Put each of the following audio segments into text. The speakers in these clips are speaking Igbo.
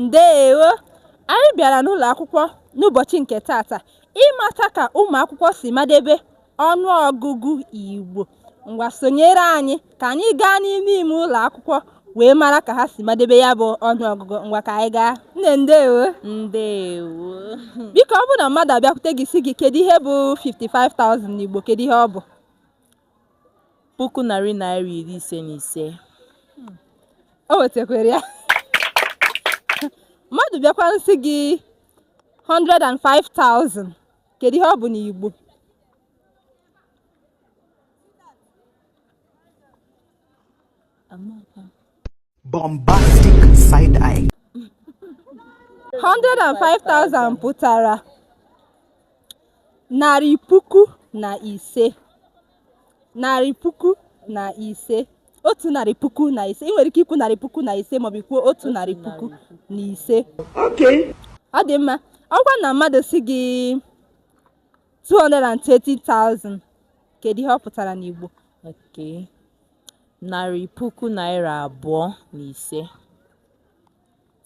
Ndeewo! Anyị bịara n'ụlọakwụkwọ n'ụbọchị nke taata ịmata ka ụmụakwụkwọ si madebe ọnụọgụgụ Igbo. Ngwa sonyere anyị ka anyị gaa n'ime ime ụlọakwụkwọ wee mara ka ha si madebe ya bụ ọnụọgụgụ. Ngwa ka anyị gaa. Nne ndeewo! Ndeewo! Biko ọ bụrụ na mmadụ abịakwute gị sị gị kedụ ihe bụ 55,000 n'Igbo, kedụ ihe ọ bụ? puku narị naira iri ise na ise o nwetakwara ya mmadụ bịakwanụ sị gị 105,000 kedu ihe ọ bụ n'Igbo bombastic side eye 105,000 pụtara narị puku na ise narị puku na ise otu narị puku na ise ị nwere ike ikwu narị puku na ise maọbụ ị kwuo otu narị puku na ise ọ dị mma ọ bụkwanụ na mmadụ sị gị 230,000 kedu ihe ọ pụtara n'Igbo okay narị puku naira abụọ na ise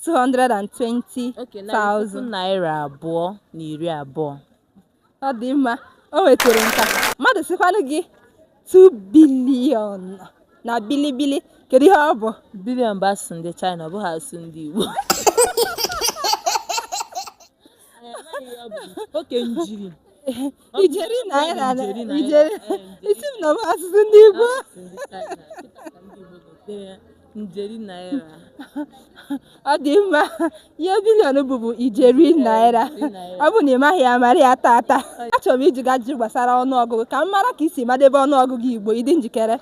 220,000 naira abụọ na iri abụọ ọ dị mma o nwetara nke a mmadụ sịkwanụ gị 2 billion na bilibili kedu ihe ọ bụ billion bụ asụsụ ndị China ọ bụghị asụsụ ndị Igbo okay njeri ijeri naira ijeri ị sị m na ọ bụ asụsụ ndị Igbo njeri naira ọ dị mma ihe billion bụ bụ ijeri naira ọ bụ na ị maghị ya mara ya taata achọrọ m ịjụ gị ajụjụ gbasara ọnụọgụgụ ka m mara ka i si madebe ọnụọgụgụ Igbo ị dị njikere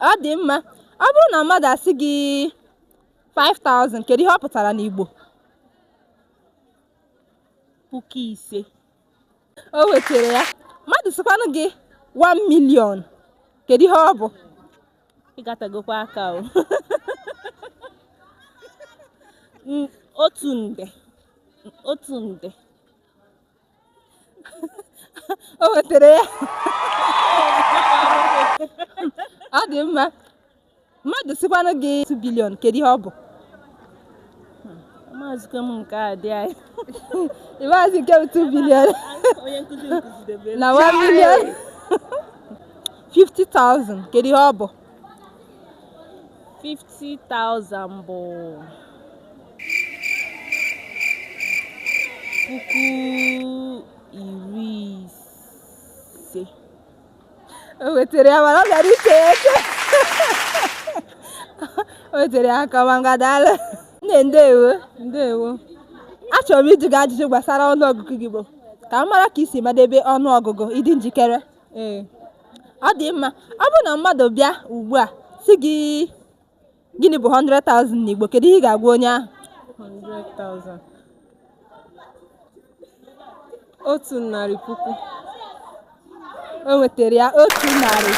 ọ dị mma ọ bụrụ na mmadụ asị gị 5000 kedu ihe ọ pụtara n'Igbo puku ise o nwetara ya mmadụ sịkwanụ gị 1 million kedu ihe ọ bụ ị gatagokwa aka o otu nde otu nde o nwetara ya ọ dị mma mmadụ sịkwanụ gị 2 billion kedu ihe ọ bụ amazịghị m nke a dị anyị ịmaazị nke bụ 2 billion onye nkụzi m kụzidebe na 1 million 50,000 kedu ihe ọ bụ 50,000 bụ puku iri ise o nwetara ya mana ọ gara ike eke o nwetara ya aka ma ngwa daalụ nne ndewo ndewo achọrọ m ịjụ gị ajụjụ gbasara ọnụọgụgụ gị bụ ka m mara ka i si madebe ọnụọgụgụ ị dị njikere ee ọ dị mma ọ bụrụ na mmadụ bịa ugbu a sị gị gịnị bụ 100,000 n'Igbo kedu ihe ị ga-agwa onye ahụ 100,000 otu narị puku o nwetara ya otu narị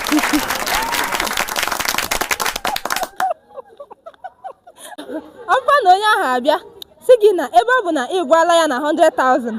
puku ọ bụkwa na onye ahụ abịa sị gị na ebe ọ bụ na ị gwala ya na 100,000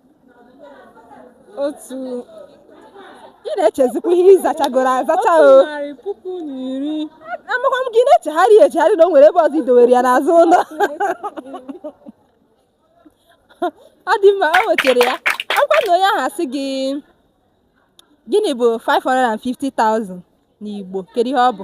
otu ị na-echezikwa ihe ị zachagoro azacha o narị puku na iri amakwa m gị na-echegharị echegharị na o nwere ebe ọzọ i dowere ya n'azụ ụlọ ọ dị mma o nwetara ya ọ kwa na onye ahụ asị gị gịnị bụ 550,000 n'Igbo kedu ihe ọ bụ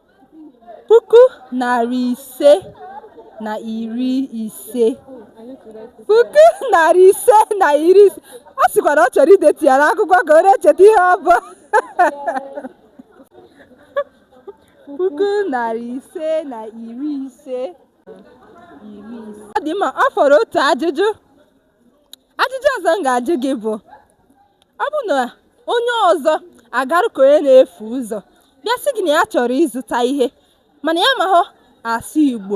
puku narị ise na iri ise puku narị ise na iri ise ọ sịkwa na ọ chọrọ idetu ya n'akwụkwọ ka ọ na-echeta ihe ọ bụ puku narị ise na iri ise iri ise ọ dị mma ọ fọrọ otu ajụjụ ajụjụ ọzọ m ga-ajụ gị bụ ọ bụ na onye ọzọ agarụ ka onye na-efu ụzọ bịa sị gị na ya chọrọ ịzụta ihe mana ya amahụ asụ igbo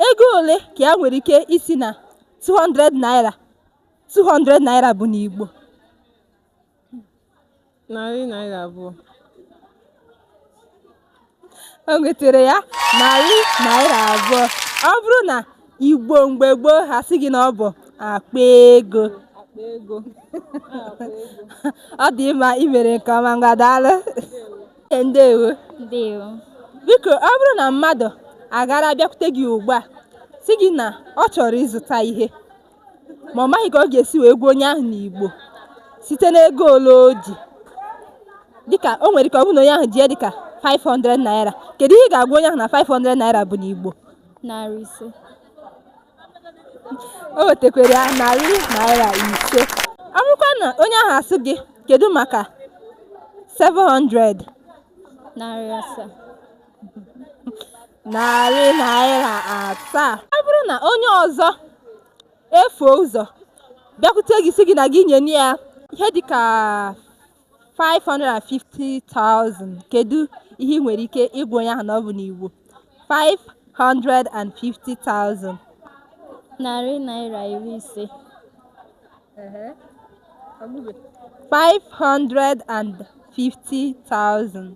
ego ole ka ya nwere ike ịsị na 200 naira 200 naira bụ n'igbo narị naira abụọ o nwetere ya narị naira abụọ ọ bụrụ n'igbo mgbe gboo ha sị gị na ọ bụ akpa ego ọ dị mma i mere nke ọma ngwa daalụ ndewo ndewo biko ọ bụrụ na mmadụ agara bịakwute gị ugbu a sị gị na ọ chọrọ ịzụta ihe ma ọ maghị ka ọ ga-esi wee gwa onye ahụ n'Igbo site n'ego ole o ji dịka o nwere ike ọ bụrụ na onye ahụ ji ya dịka 500 naira kedu ihe ị ga-agwa onye ahụ na 500 naira bụ n'Igbo narị ise o nwetekwere ya narị naira ise ọ bụrụkwa na onye ahụ asị gị kedu maka 700 narị asaa narị naira asaa ọ bụrụ na onye ọzọ efuo ụzọ bịakwute gị sị gị na gị nye ya ihe dịka 550,000 kedu ihe ị nwere ike ịgwa onye ahụ na ọ bụ n'Igbo 550,000 narị naira iri ise 550,000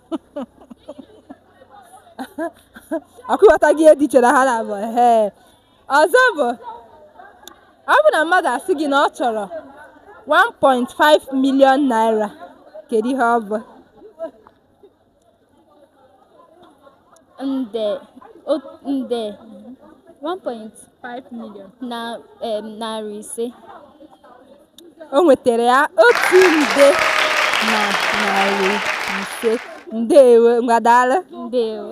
ọkwa ị ghọtago ihe dị iche na ha n'abụọ ee ọzọ bụ ọ bụ na mmadụ asị gị na ọ chọrọ 1.5 million naira kedu ihe ọ bụ nde o- nde 1.5 million na em, narị ise o nwetara ya otu nde na narị ise ndewo ngwa daalụ ndewo